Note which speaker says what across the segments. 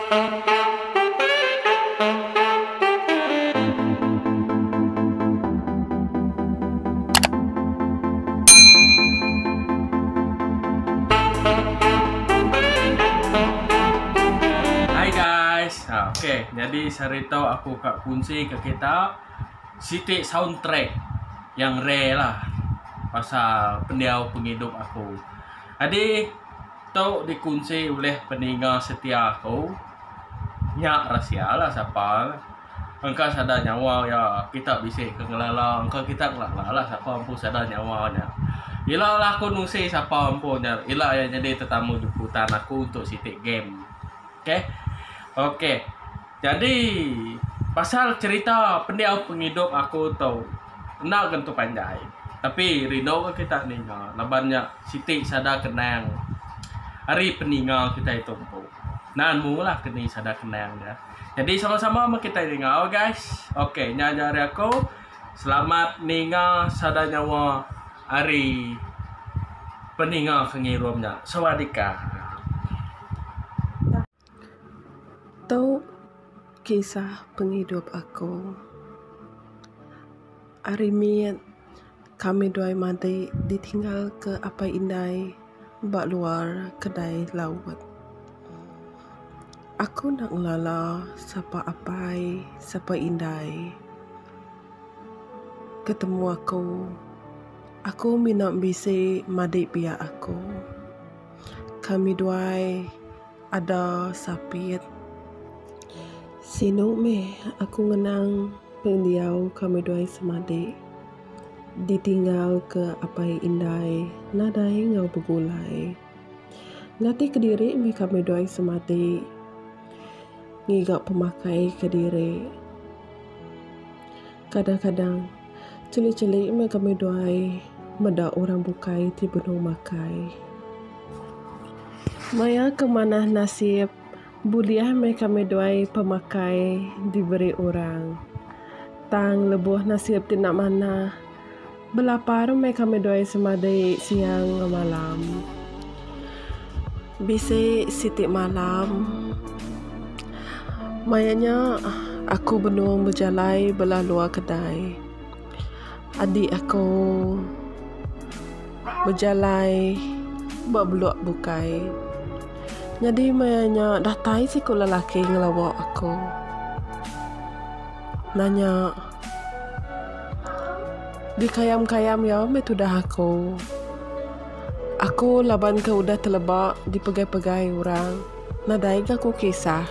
Speaker 1: Hai guys. Ha okey, jadi sehari tau aku ka kunsi ke kita siti soundtrack yang rare lah pasal pendiau pengidup aku. Jadi Tu dikunsi ulih peninga setia aku nya rahsia lah sapa engka sada nyawa iya kita bisi ke ngelala engka kita ngelala lah sapa empu sada nyawa nya. Ila lah aku nungsi sapa empu nya ila iya nyadi tetamu jemputan aku untuk siti game. Okey. Okey. Jadi pasal cerita pendiau pengidup aku tu enda tentu panjai tapi rindu ga kita ninga laban nya siti sada kenang ari peninga kitai tu empu. Nan mung lah keni sada kenang dia. Jadi sama-sama meh kitai ninga ok guys. Ok nya aja ari aku. Selamat ninga sada nyawa ari peninga ke ngirum nya. Sawadika. Tu kisah pengidup aku. Ari mit kami duai madik ditinggal ke apai indai ba luar kedai laut. Aku enda ngelala sapa apai sapa indai ketemu aku. Aku mina bisi madik biak aku. Kami duai. Ada sapit. Sinu meh aku ngenang pendiau kami dua ai semadik. Ditinggal ke apai indai nadai enggau begulai. Ngatih kediri meh kami dua ai semadik ngiga pemakai kediri. Kadang-kadang. Chili-chili meh kami duai meda orang bukai ti benung makai. Maya ke manah nasib, bulih meh kami duai pemakai diberi orang. Tang lebuh nasib ti enda manah, belapar meh kami duai semadi siang enggau malam. Bisi siti malam, maya nya aku benung bejalai bala luar kedai. Adik aku bejalai ba blok bukai. Nyadi maya nya datai siku lelaki ngelawa aku. Nanya, Dikayam-kayam iya meh tudah aku. Aku laban ke udah teleba dipegai-pegai orang. Nadai ga ku kisah.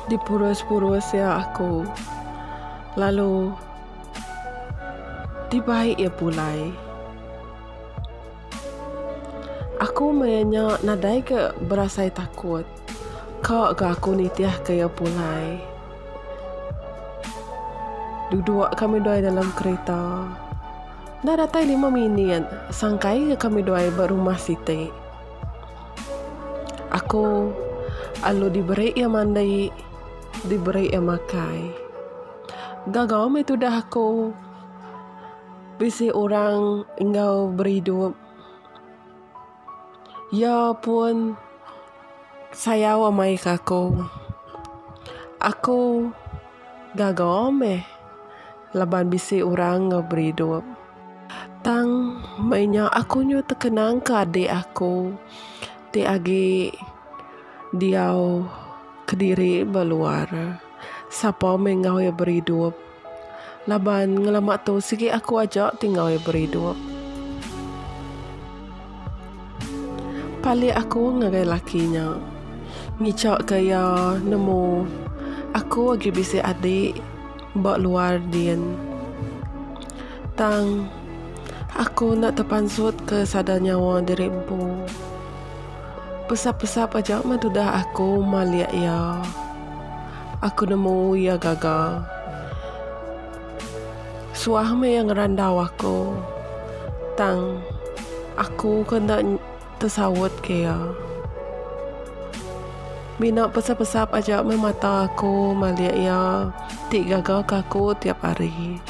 Speaker 1: Dipurus-purus iya aku. Lalu dibai iya pulai. Aku maya nya nadai ga berasai takut. Ka ga aku nitihka iya pulai. Duduk kami dua iya dalam kereta. Enda datai lima minit, sangkai ga kami duai ba rumah siti. Aku alu diberi iya mandi, diberi iya makai. Gaga meh tudah aku bisi orang enggau beridup. Iya pun sayau amai ke aku. Aku gaga meh laban bisi orang ke beri idup. Tang meh nya aku nyuh tekenang ke adik aku ti agi diau kediri ba luar. Sapa meh enggau iya beri idup. Laban ngelama tu sigi aku aja ti ngawi beridup. Palik aku ngagai laki nya. Ngichakka iya nemu aku agi bisi adik ba luar din. Tang aku enda tepansutka sada nyawa diri empu. Pesap-pesap aja meh tudah aku malik iya. Aku nemu iya gaga. Suah meh iya ngerandau aku. Tang aku ke enda tesaut ke iya. Mina pesap-pesap aja meh mata aku malik iya ti gaga ke aku tiap hari.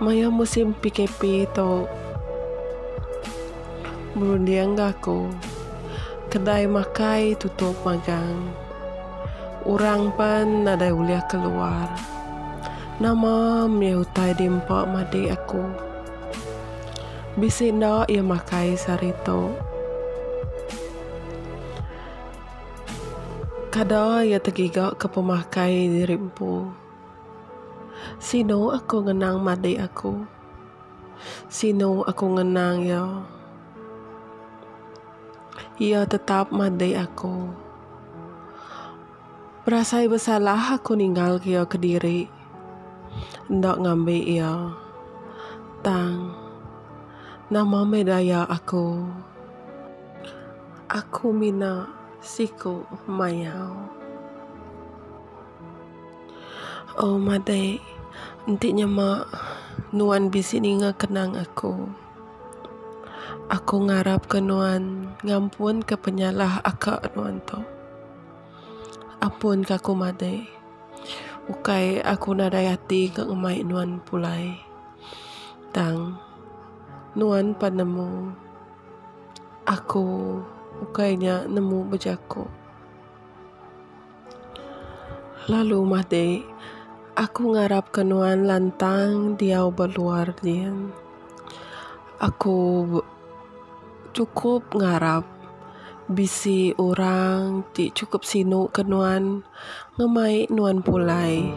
Speaker 1: Maya musim PKP tu. Berunding ga aku. Kedai makai tutup magang. Orang pen nadai ulih keluar. Nama mih utai di empa madik aku. Bisi enda iya makai sehari tu. Kada iya tegiga ke pemakai diri empu. Sinu aku ngenang madik aku. Sinu aku ngenang iya. Iya tetap madik aku. Berasai besalah aku ninggalka iya kediri. Enda ngambi iya. Tang, nama meh daya aku. Aku mina siku mayau. Oh madai enti nyema nuan bisi ninga kenang aku. Aku ngarapka nuan ngampunka penyalah aka nuan tu. Ampunka aku madai. Ukai aku nadai ati ke ngemai nuan pulai. Tang nuan pan nemu aku ukai nya nemu bejaku. Lalu mah deh, aku ngarapka nuan lantang diau ba luar din. Aku cukup ngarap bisi orang ti cukup sinu ke nuan ngemai nuan pulai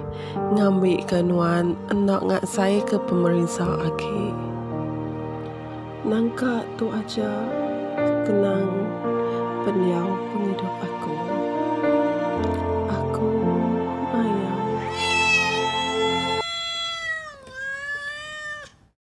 Speaker 1: ngambika nuan enda ngasaika pemerisa agi. Nangka tu aja kenang pendiau pengidup aku. Aku mayuh.